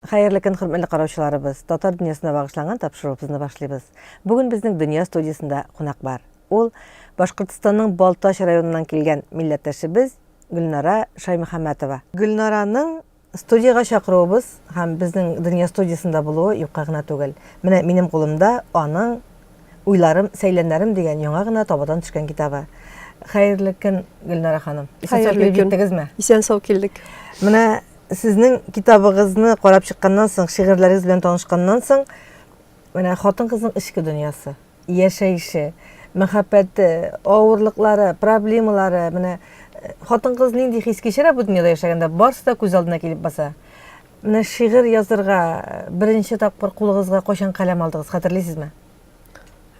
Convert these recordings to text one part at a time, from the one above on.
Хәерле көн, хөрмәтле караучыларыбыз. Татар дөньясына багышланган тапшыруыбызны башлыйбыз. Бүген безнең дөнья студиясендә кунак бар. Ул Башкортостанның Балтач районыннан килгән милләттәшебез Гөлнара Шаймөхәммәтова. Гөлнараның Студиягә чакыруыбыз һәм безнең Дөнья студиясендә булуы юкка гына түгел. Менә минем кулымда аның Уйларым, сәйләннәрем дигән яңа гына табадан төшкән китабы. Хәерле көн, Гөлнара ханым. Исән-сау килеп җиттегезме? Исән-сау килдек. Менә сезнең китабыгызны карап чыкканнан соң, шигырьләрегез белән танышканнан соң, менә хатын-кызның эчке дөньясы. яшәеше, мәхәббәте, авырлыклары, проблемалары, менә хатын-кыз нинди хис кичерә бу дөньяда яшәгәндә, барысы да күз алдына килеп баса. Менә шигырь язырга беренче тапкыр кулыгызга кайчан каләм алдыгыз, хәтерлисезме?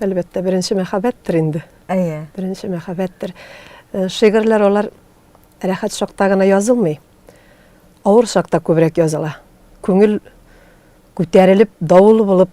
Әлбәттә, беренче мәхәббәттер инде. Әйе. Беренче мәхәббәттер. Э, шигырьләр алар рәхәт чакта гына язылмый. Авыр чакта күбрәк языла. Күңел күтәрелеп, давыл булып,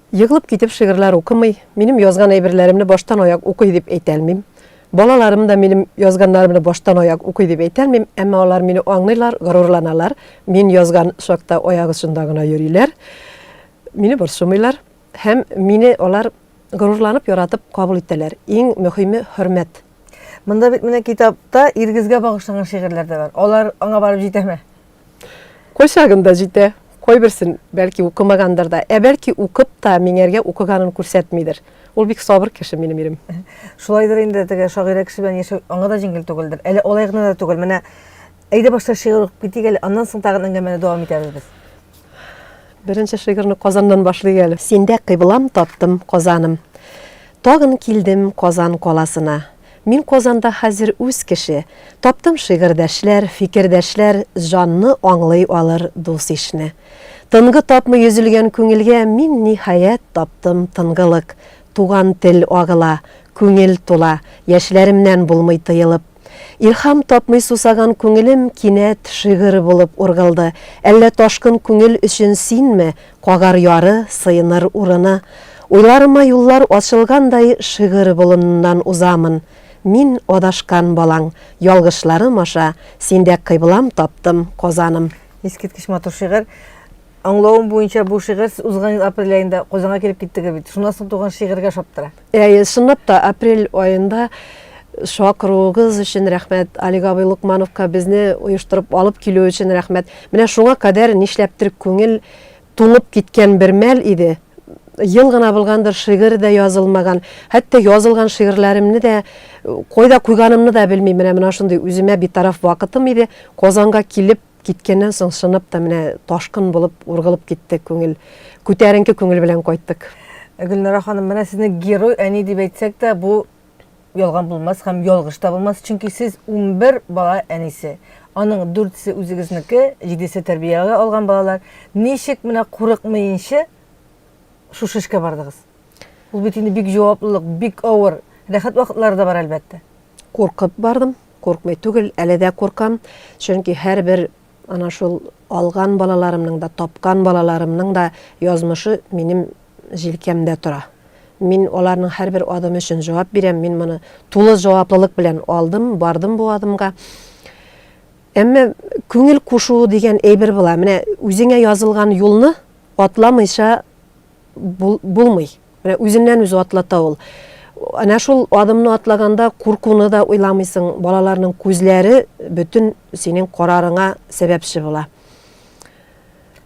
Егылып китеп шигырьләр укымый, минем язган әйберләремне баштан-аяк укый дип әйтә алмыйм. Балаларым да минем язганнарымны баштан-аяк укый дип әйтә алмыйм, әмма алар мине аңлыйлар, горурланалар, мин язган чакта аяк очында гына йөриләр, мине борчымыйлар һәм мине алар горурланып, яратып кабул итәләр. Иң мөһиме, хөрмәт. Монда бит менә китапта Иргизгә багышланган шигырьләр дә бар. Алар аңа барып җитәме? Кайчагын да җитә, кайберсен, бәлки, укымагандыр да, ә бәлки, укып та миңәргә укыганын күрсәтмидер. Ул бик сабыр кеше минем ирем. Шулайдыр инде, теге шагыйрә кеше белән яшәү аңа да җиңел түгелдер. Әле алай гына да түгел. Менә әйдә башта шигырь укып китик әле, аннан соң тагын әңгәмәне дәвам итәбез без. Беренче шигырьне Казаннан башлыйк әле. Синдә кыйблам таптым, Казаным. Тагын килдем Казан каласына. Мин Казанда хәзер үз кеше, Таптым шигырьдәшләр, фикердәшләр, Җанны аңлый алыр дус-ишне. Тынгы тапмый өзелгән күңелгә Мин, ниһаять, таптым тынгылык. Туган тел агыла, күңел тула, Яшьләремнән булмый тыелып. Илһам тапмый сусаган күңелем Кинәт шигырь булып ургылды. Әллә ташкын күңел өчен синме Кагар яры, сыеныр урыны. Уйларыма юллар ачылгандай Шигырь болыныннан узамын. Мин, адашкан балаң, ялгышларым аша Синдә кыйблам таптым, Казаным. Искиткеч матур шигырь. Аңлавым буенча, бу шигырь сез узган ел апрель аенда Казанга килеп киттегез бит. Шуннан соң туган шигырьгә ошап тора. Әйе, чынлап та, апрель аенда чакыруыгыз өчен рәхмәт, Олег абый Лукмановка безне оештырып алып килү өчен рәхмәт. Менә шуңа кадәр нишләптер күңел туңып киткән бер мәл иде. Ел гына булгандыр, шигырь дә язылмаган. Хәтта язылган шигырьләремне дә кайда куйганымны да белмим. Менә менә шундый үземә битараф вакытым иде. Казанга килеп, Киткәннән соң чынып та менә ташкын булып ургылып китте күңел. Күтәренке күңел белән кайттык. Гөлнара ханым, менә сезне герой әни дип әйтсәк тә, бу ялган булмас һәм ялгыш та булмас, чөнки сез унбер бала әнисе. Аның дүртесе үзегезнеке, җидесе тәрбиягә алган балалар. Ничек менә курыкмыенчы шушы эшкә бардыгыз? Ул бит инде бик җаваплылык, бик авыр. Рәхәт вакытлары да бар, әлбәттә. Куркып бардым. Куркмый түгел, әле дә куркам, чөнки һәрбер ана шул алган балаларымның да, тапкан балаларымның да язмышы минем җилкәмдә тора. Мин аларның һәрбер адымы өчен җавап бирәм, мин моны тулы җаваплылык белән алдым, бардым бу адымга. Әмма күңел кушу дигән әйбер була. Менә үзеңә язылган юлны атламыйча булмый. Менә үзеннән-үзе атлата ул. Әнә шул адымны атлаганда куркуны да уйламыйсың, балаларның күзләре бөтен синең карарыңа сәбәпче була.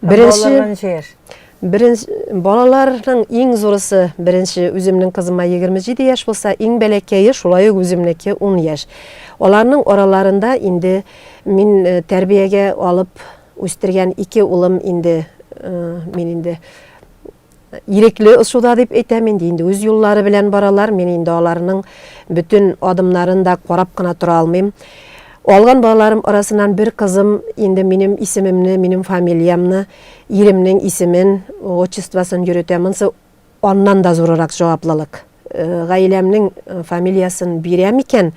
Беренче Балаларга ничә яшь? Беренче балаларның иң зурысы беренче үземнең кызыма 27 яшь булса, иң бәләкәе шулай ук үземнеке 10 яшь. Аларның араларында инде мин э, тәрбиягә алып үстергән ике улым инде э, мин инде Ирекле очуда дип әйтәм инде, инде үз юллары белән баралар, мин инде аларның бөтен адымнарын да карап кына тора алмыйм. Алган балаларым арасынан бер кызым инде минем исемемне, минем фамилиямны, иремнең исемен, отчествосын йөрөтә. Монсы аннан да зурырак җаваплылык. гаиләмнең фамилиясен бирәм икән,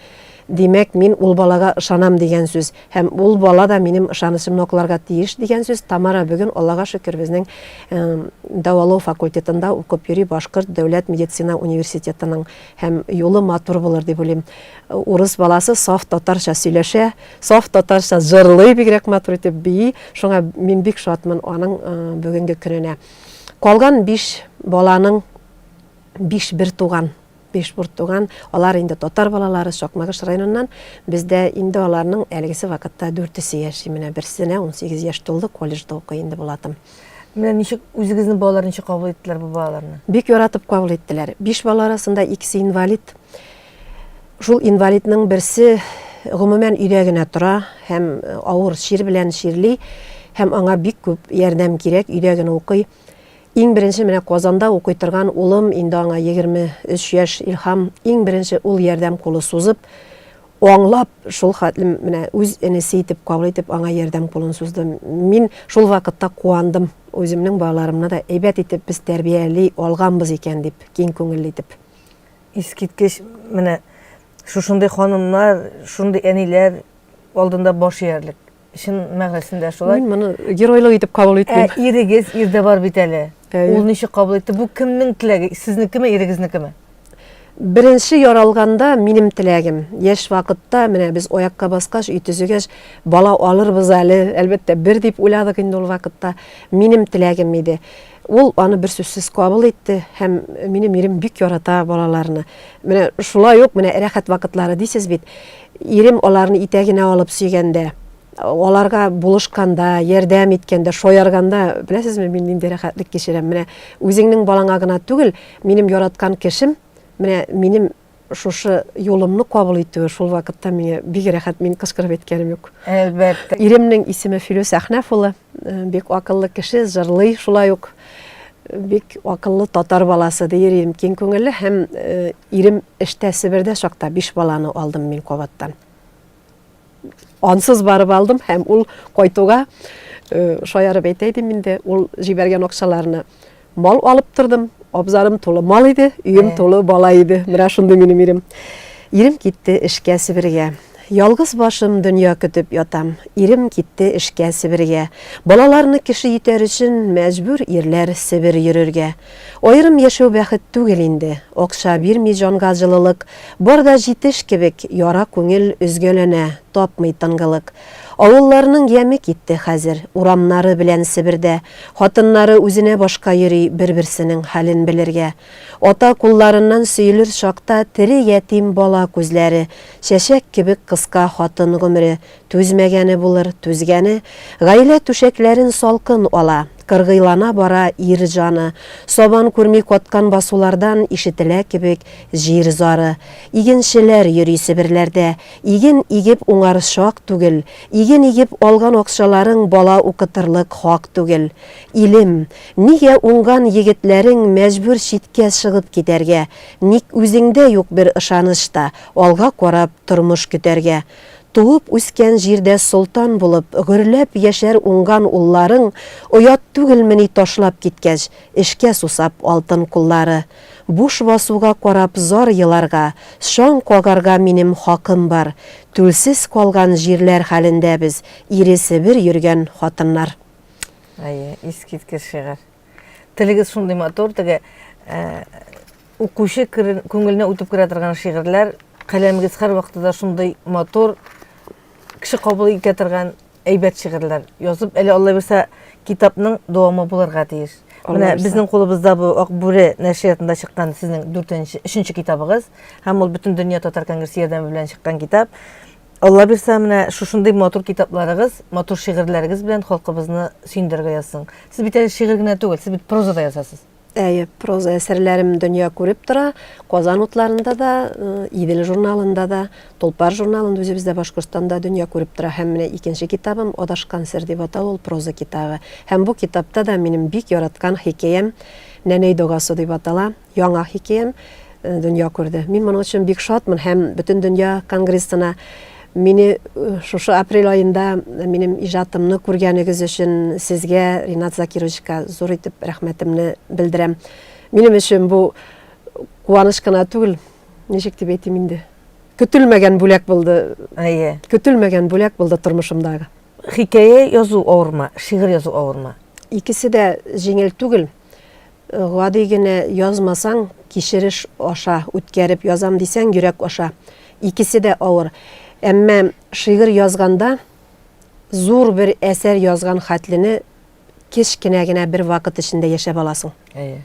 димәк, мин ул балага ышанам дигән сүз. Һәм ул бала да минем ышанычымны акларга тиеш дигән сүз. Тамара бүген, Аллага шөкер, безнең дәвалау факультетында укып йөри, Башкорт дәүләт медицина университетының. Һәм юлы матур булыр дип уйлыйм. Урыс баласы саф татарча сөйләшә, саф татарча җырлый, бигрәк матур итеп бии. Шуңа мин бик шатмын аның бүгенге көненә. Калган биш баланың Биш бертуган, биш бертуган, алар инде татар балалары, Сакмагыш районыннан. Бездә инде аларның әлегесе вакытта дүртесе яши. Менә берсенә унсигез яшь тулды, колледжда укый инде Булатым. Менә ничек үзегезнең балалар ничек кабул иттеләр бу балаларны? Бик яратып кабул иттеләр. Биш бала арасында икесе инвалид. Шул инвалидның берсе гомумән өйдә генә тора һәм авыр чир белән чирли һәм аңа бик күп ярдәм кирәк, өйдә генә укый. Иң беренче менә Казанда укый торган улым, инде аңа егерме өч яшь, Илһам, иң беренче ул ярдәм кулы сузып, аңлап, шул хәтле менә үз энесе итеп кабул итеп, аңа ярдәм кулын сузды. Мин шул вакытта куандым, үземнең балаларымны да әйбәт итеп без тәрбияли алганбыз икән дип, киң күңелле итеп. Искиткеч, менә шушындый ханымнар, шундый әниләр алдында баш иярлек. Чын мәгънәсендә шулай. Мин моны геройлык итеп кабул итмим. Ә ирегез, ирдә бар бит әле. Ул ничек кабул итте? Бу кемнең теләге? Сезнекеме, ирегезнекеме? Беренче яралганда минем теләгем. Яшь вакытта менә без аякка баскач, өй төзегәч, бала алырбыз әле, әлбәттә, бер дип уйладык инде ул вакытта. Минем теләгем иде. Ул аны берсүзсез кабул итте һәм минем ирем бик ярата балаларны. Менә шулай ук менә рәхәт вакытлары дисез бит. Ирем аларны итәгенә алып сөйгәндә, аларга булышканда, ярдәм иткәндә, шаярганда, беләсезме, мин нинди рәхәтлек кичерәм. Менә үзеңнең балаңа гына түгел, минем яраткан кешем, менә минем Шушы юлымны кабул итүе шул вакытта миңа бик рәхәт, мин кычкырып әйткәнем юк. Әлбәттә. Иремнең исеме Филүс Әхнәф улы, бик акыллы кеше, җырлый шулай ук. Бик акыллы татар баласы, ди ирем, киң күңелле һәм ирем эштә Себердә чакта биш баланы алдым мин кабаттан. ансыз барып алдым һәм ул кайтуга шаярып әйтә идем инде ул җибәргән акчаларны мал алып тордым абзарым тулы мал иде өем тулы бала иде менә шундый минем ирем ирем китте эшкә себергә Ялгыз башым дөнья көтеп ятам. Ирем китте эшкә Себергә. Балаларны кеше итәр өчен мәҗбүр ирләр Себер йөрергә. Аерым яшәү бәхет түгел инде, акча бирми җанга җылылык, Бар да җитеш кебек, яра күңел өзгәләнә, тапмый тынгылык. Авылларның яме китте хәзер, урамнары белән Себердә, Хатыннары үзенә башка йөри, бер-берсенең хәлен белергә. Ата кулларыннан сөелер чакта тере ятим бала күзләре, Чәчәк кебек кыска хатын гомере, Түзмәгәне булыр, түзгәне, гаилә түшәкләрен салкын ала, кыргыйлана бара ир җаны, сабан күрми каткан басулардан ишетелә кебек җир зары. Игенчеләр йөри Себерләрдә, иген игеп уңар чак түгел, иген игеп алган акчаларың бала укытырлык хак түгел. Илем, нигә уңган егетләрең мәҗбүр читкә чыгып китәргә, ник үзеңдә юк бер ышаныч та алга карап тормыш көтәргә? Туып үскән җирдә солтан булып, гөрләп яшәр уңган улларың, оят түгелмени ташлап киткәч, эшкә сусап алтын куллары. Буш басуга карап зар еларга, чаң кагарга минем хакым бар. Түлсез калган җирләр хәлендә без, ире Себер йөргән хатыннар. Әйе, искиткеч шигырь. Телегез шундый матур, теге, ә, Укучы күңеленә үтеп керә торган шигырьләр, каләмегез һәрвакыты да шундый матур, кеше кабул итә торган әйбәт шигырьләр язып, әле Алла бирсә, китапның дәвамы булырга тиеш. Менә безнең кулыбызда бу Ак бүре нәшриятында чыккан сезнең 4-нче, 3-нче китабыгыз, һәм ул бөтен дөнья татар конгрессы ярдәме белән чыккан китап. Алла бирсә, менә шушындый матур китапларыгыз, матур шигырьләрегез белән халкыбызны сөендерергә язсын. Сез бит әле шигырь генә түгел, сез бит проза да язасыз. Әйе, проза әсәрләрем дөнья күреп тора. Казан утларында да, э, Идел журналында да, Толпар журналында үзебездә Башкортстанда дөнья күреп тора. Һәм менә икенче китабым Адашкан сер дип атала, ул проза китабы. Һәм бу китапта да минем бик яраткан хикәям Нәнәй догасы дип атала. Яңа хикәям э, дөнья күрде. Мин моның өчен бик шатмын һәм бөтен дөнья конгрессына Мине шушы апрель аенда минем иҗатымны күргәнегез өчен сезгә, Ринат Закировичка, зур итеп рәхмәтемне белдерәм. Минем өчен бу куаныч кына түгел, ничек дип әйтим инде, көтелмәгән бүләк булды. Әйе. Көтелмәгән бүләк булды тормышымдагы. Хикәя язу авырмы, шигырь язу авырмы? Икесе дә җиңел түгел. Гади генә язмасаң, кичереш аша үткәреп язам дисәң, йөрәк аша. Икесе дә авыр. Әмма шигырь язганда зур бер әсәр язган хәтлене кечкенә генә бер вакыт эчендә яшәп аласың. Әйе.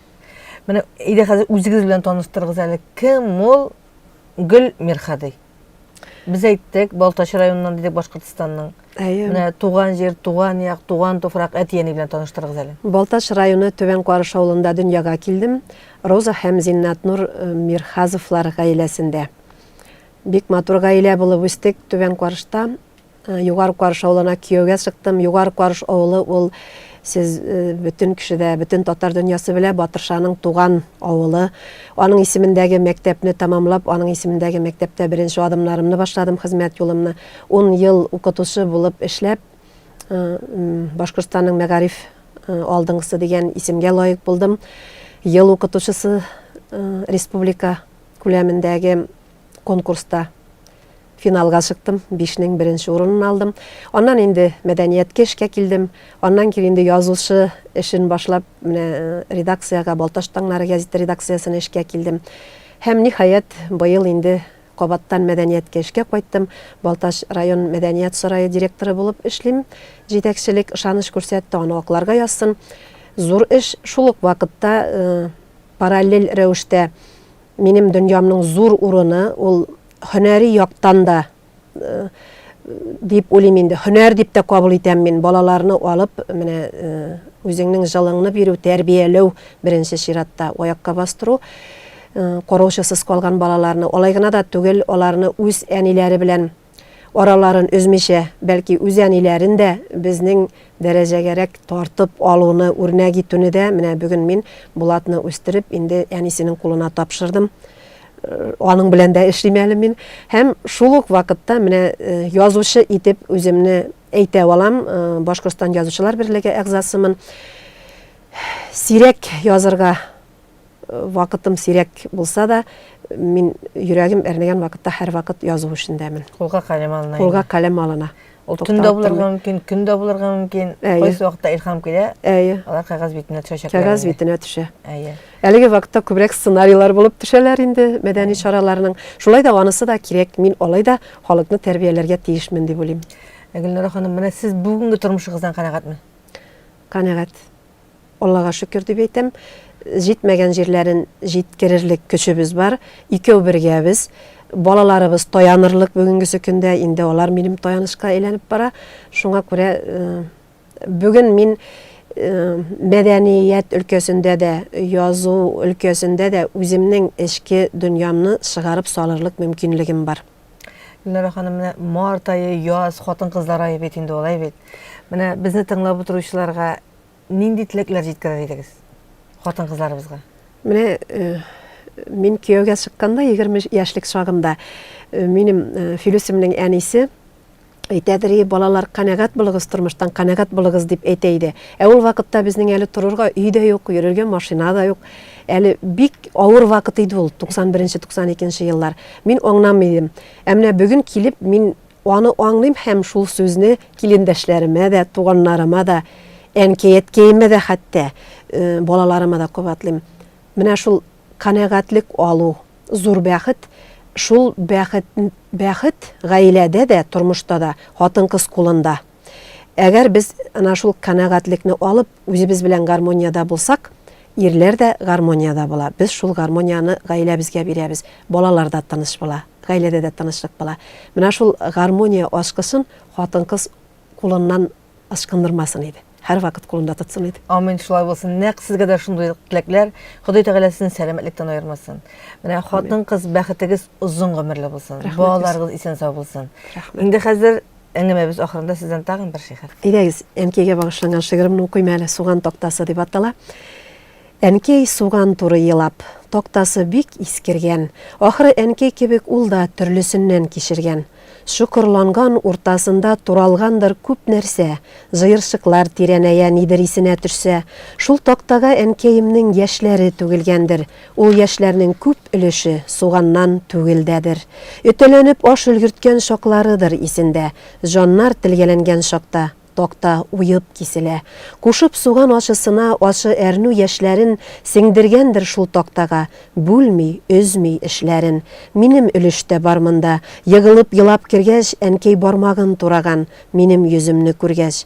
Менә әйдә хәзер үзегез белән таныштырыгыз әле. Кем ул Гөл Мирхади? Без әйттек, Балтач районыннан дидек Башкортостанның. Әйе. Менә туган җир, туган як, туган туфрак әти-әни белән таныштырыгыз әле. Балтач районы Түбән Карыш авылында дөньяга килдем. Роза һәм Зиннатнур э, Мирхазовлар гаиләсендә. Бик матур гаилә булып үстек Түбән Карышта. Югары Карыш авылына кияүгә чыктым. Югары Карыш авылы ул сез бөтен кеше дә, бөтен татар дөньясы белә Батыршаның туган авылы. Аның исемендәге мәктәпне тәмамлап, аның исемендәге мәктәптә беренче адымнарымны башладым, хезмәт юлымны. Ун ел укытучы булып эшләп, Башкортстанның мәгариф алдынгысы дигән исемгә лаек булдым. Ел укытучысы республика күләмендәге конкурста Финалга чыктым, бишнең беренче урынын алдым. Аннан инде мәдәнияткә эшкә килдем. Аннан кире инде язучы эшен башлап, менә редакциягә, Балтач таңнары гәзите редакциясенә эшкә килдем. Һәм, ниһаять, быел инде кабаттан мәдәнияткә эшкә кайттым. Балтач район мәдәният сарае директоры булып эшлим. Җитәкчелек ышаныч күрсәтте, аны акларга язсын. Зур эш, шул ук вакытта параллель рәвештә минем дөньямның зур урыны, ул Һөнәри яктан да, дип уйлыйм инде, һөнәр дип тә кабул итәм мин, балаларны алып, менә үзеңнең җылыңны бирү, тәрбияләү, беренче чиратта, аякка бастыру, караучысыз калган балаларны, алай гына да түгел, аларны үз әниләре белән араларын өзмичә, бәлки үз әниләрен дә безнең дәрәҗәгәрәк тартып алуны, үрнәк итүне дә, менә бүген мин Булатны үстереп, инде әнисенең кулына тапшырдым. Аның белән дә эшлим әле мин. Һәм шул ук вакытта менә язучы итеп үземне әйтә алам, Башкортстан язучылар берлеге әгъзасымын. Сирәк язырга вакытым сирәк булса да, мин йөрәгем әрнегән вакытта һәрвакыт язу эшендәмен. Кулга каләм алына. Кулга каләм алына. Ул төн дә булырга мөмкин, көн дә булырга мөмкин. Кайсы вакытта илһам килә, алар кәгазь битенә төшәчәк. Кәгазь битенә төшә. Әлеге вакытта күбрәк сценарийлар булып төшәләр инде мәдәни чараларның. Шулай да анысы да кирәк, мин алай да халыкны тәрбияләргә тиешмен дип уйлыйм. Гөлнара ханым, менә сез бүгенге тормышыгыздан канәгатьме? Канәгать. Аллага шөкер дип әйтәм, җитмәгән җирләрен җиткерерлек көчебез бар, икәү бергәбез. Балаларыбыз таянырлык бүгенгесе көндә, инде алар минем таянычка әйләнеп бара. Шуңа күрә бүген мин мәдәният өлкәсендә дә, язу өлкәсендә дә үземнең эчке дөньямны чыгарып салырлык мөмкинлегем бар. Гөлнара ханым, менә март ае, яз, хатын-кызлар ае бит инде алай бит. Менә безне тыңлап утыручыларга Нинди теләкләр җиткерер идегез хатын-кызларыбызга? Менә э, мин кияүгә чыкканда 20 яшьлек чагымда э, минем э, Филүсемнең әнисе әйтәдер и балалар канәгать булыгыз тормыштан канәгать булыгыз дип әйтә иде ә ул вакытта безнең әле торырга өй дә юк йөрергә машина да юк әле бик авыр вакыт иде ул 91 92 еллар мин аңламый идем ә менә бүген килеп мин Аны аңлыйм һәм шул сүзне килендәшләремә дә, туганнарыма да, әнкәй-әткәемә дә хәтта, балаларыма да кабатлыйм. Менә шул канәгатьлек алу, зур бәхет. Шул бәхет, бәхет гаиләдә дә, тормышта да, хатын-кыз кулында. Әгәр без ана шул канәгатьлекне алып, үзебез белән гармониядә булсак, ирләр дә гармониядә була. Без шул гармонияне гаиләбезгә бирәбез. Балалар да тыныч була, гаиләдә дә тынычлык була. Менә шул гармония ачкычын хатын-кыз кулыннан ычкындырмасын иде. Һәрвакыт кулында тотсын иде. Амин, шулай булсын. Нәкъ сезгә дә шундый теләкләр. Ходай Тәгалә сезне сәламәтлектән аермасын. Менә хатын-кыз бәхетегез озын гомерле булсын. Балаларыгыз исән-сау булсын. Инде хәзер Әңгәмәбез ахырында сездән тагын бер шигырь. Әйдәгез, әнкәйгә багышланган шигыремне укыйм әле, Суган тактасы дип атала. Әнкәй суган туры елап, тактасы бик искергән. Ахры әнкәй кебек ул да төрлесеннән кичергән. Чокырланган уртасында туралгандыр күп нәрсә, җыерчыклар тирәнәя, нидер исенә төшсә. Шул тактага әнкәемнең яшьләре түгелгәндер, Ул яшьләрнең күп өлеше суганнан түгелдәдер. Өтәләнеп аш өлгерткән чакларыдыр исендә. Җаннар телгәләнгән чакта такта уеп киселә. Кушып суган ачысына ачы әрнү яшьләрен сеңдергәндер шул тактага, бүлми, өзми эшләрен. Минем өлеш тә бар монда. Егылып елап кергәч, әнкәй бармагын тураган, минем йөземне күргәч.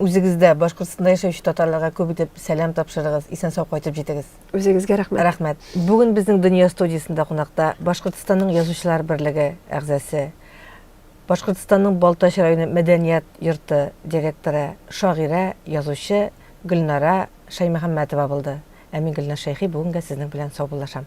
үзегездә Башкортстанда яшәүче татарларга күп итеп сәлам тапшырыгыз, исән-сау кайтып җитегез. Үзегезгә рәхмәт. Рәхмәт. Бүген безнең Дөнья студиясендә кунакта Башкортстанның Язучылар берлеге әгъзасы, Башкортстанның Балтач районы мәдәният йорты директоры, шагыйрә, язучы Гөлнара Шаймөхәммәтова булды. Ә мин Гөлназ Шәйхи бүгенгә сезнең белән саубуллашам.